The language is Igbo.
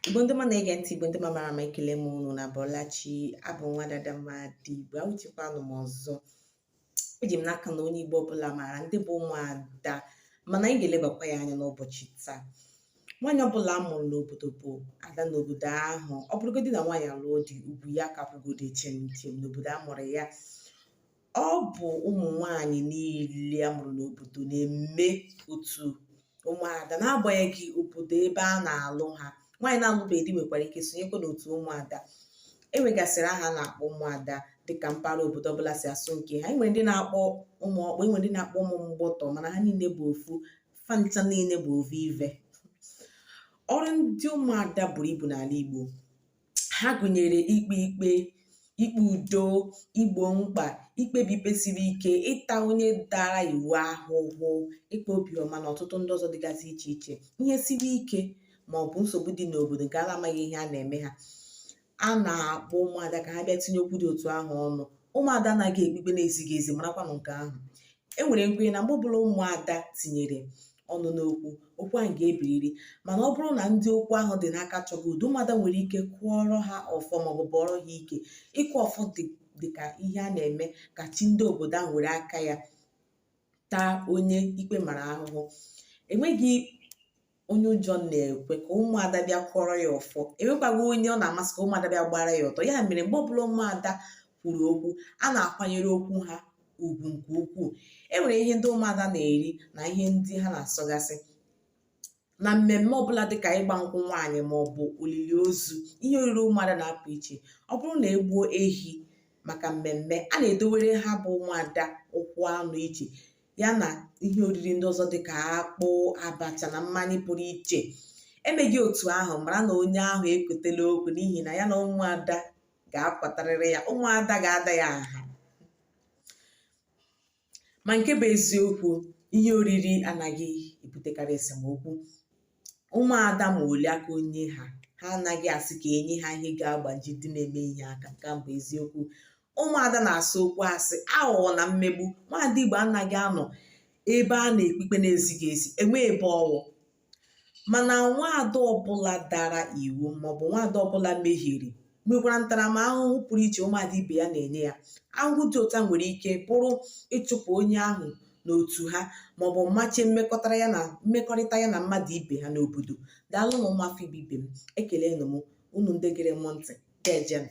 Igbo ndị ọma na-ege ntị Igbo ndị ọma mara mma ekele m unu unu abọla chi abụ nwada Adamma ndị Igbo awụchikwanụ m ọzọ eji m n'aka na onye Igbo ọbụla maara ndị bụ ụmụada mana anyị ga-elebakwa ya anya n'ụbọchị taa nwaanyị ọbụla a mụrụ n'obodo bụ ada n'obodo ahụ ọ bụrụgodị na nwaanyị alụọ di ugwu ya ka kwụgodi chịm chịm n'obodo a mụrụ ya ọ bụ ụmụ nwanyị niile a mụrụ n'obodo na-eme otu ụmụada n'agbanyeghị obodo ebe a na-alụ ha nwaanyị na-alụbeghị di nwekwara ike sonyekwa n'otu ụmụada e nwegasịrị aha a na-akpọ ụmụada dịka mpaghara obodo ọbụla si asụ nke ha enwere ndị na-akpọ ụmụ ọkpụ enwere ndị na-akpọ ụmụ mgbọtọ mana ha niile bụ ofu fa ncha niile bụ ovu ive ọrụ ndị ụmụada buru ibu n'ala Igbo ha gụnyere ikpe ikpe ikpe udo igbo mkpa ikpebi ikpe siri ike ịta onye dara iwu ahụhụ ịkpa obiọma na ọtụtụ ndị ọzọ dịgasị iche iche ihe siri ike ma ọ bụ nsogbu dị n'obodo nke a na-amaghị ihe a na-eme ha a na-akpọ ụmụada ka ha bịa tinye okwu dị otu ahụ ọnụ ụmụada anaghị ekpe ikpe na-ezighị ezi marakwanụ nke ahụ e nwere nkwenye na mgbe ọbụla ụmụada tinyere ọnụ n'okwu okwu ahụ ga-ebiriri mana ọ bụrụ na ndị okwu ahụ dị n'aka achọghị udo ụmụada nwere ike kụọrọ ha ọfọ maọbụ bụọrọ ha ike ịkụ ọfọ dịka ihe a na-eme ka chi ndị obodo ahụ were aka ya taa onye ikpe mara ahụhụ enweghị onye ụjọ na-ekwe ka ụmụada bịa kụọrọ ya ọfọ enwekwaghị onye ọ na-amasị ka ụmụada bịa gbara ya ọtọ ya mere mgbe ọbụla ụmụada kwuru okwu a na-akwanyere okwu ha ugwu nke ukwuu e nwere ihe ndị ụmụada na-eri na ihe ndị ha na-asọgasị na mmemme ọbụla dịka ịgba nkwụ nwaanyị ma ọ bụ olili ozu ihe oriri ụmụada na-apụ iche ọ bụrụ na egbuo ehi maka mmemme a na-edowere ha bụ ụmụada ụkwụ anụ iche ya na ihe oriri ndị ọzọ dị ka akpụ abacha na mmanya pụrụ iche emeghị otu ahụ mara na onye ahụ ekotela okwu n'ihi na ya na ụmụada ga-akwatarịrị ya ụmụada ga-ada ya nha ma nke bụ eziokwu ihe oriri anaghị ebutekarị esemokwu ụmụada ma ole aka onye ha ha anaghị asị ka enye ha ihe ga-agbaji ndị na-eme ihe aka nke bụ eziokwu ụmụada na-asọ okwu asị aghụghọ na mmegbu nwaada igbo anaghị anọ ebe a na-ekpe ikpe na-ezighị ezi enwe ebe ọ wụ mana nwaada ọbụla dara iwu maọbụ nwaada ọbụla mehiere nwekwara ntaramahụhụ pụrụ iche ụmụada ibe ya na-enye ya ahụhụ dị otu a nwere ike bụrụ ịchụpụ onye ahụ n'otu ha maọbụ mmachi mmekọrịta ya na mmadụ ibe ha n'obodo daalụnụ ụmụafọ Igbo ibe m ekelenụ m unu ndị gere m ntị ga-ejenụ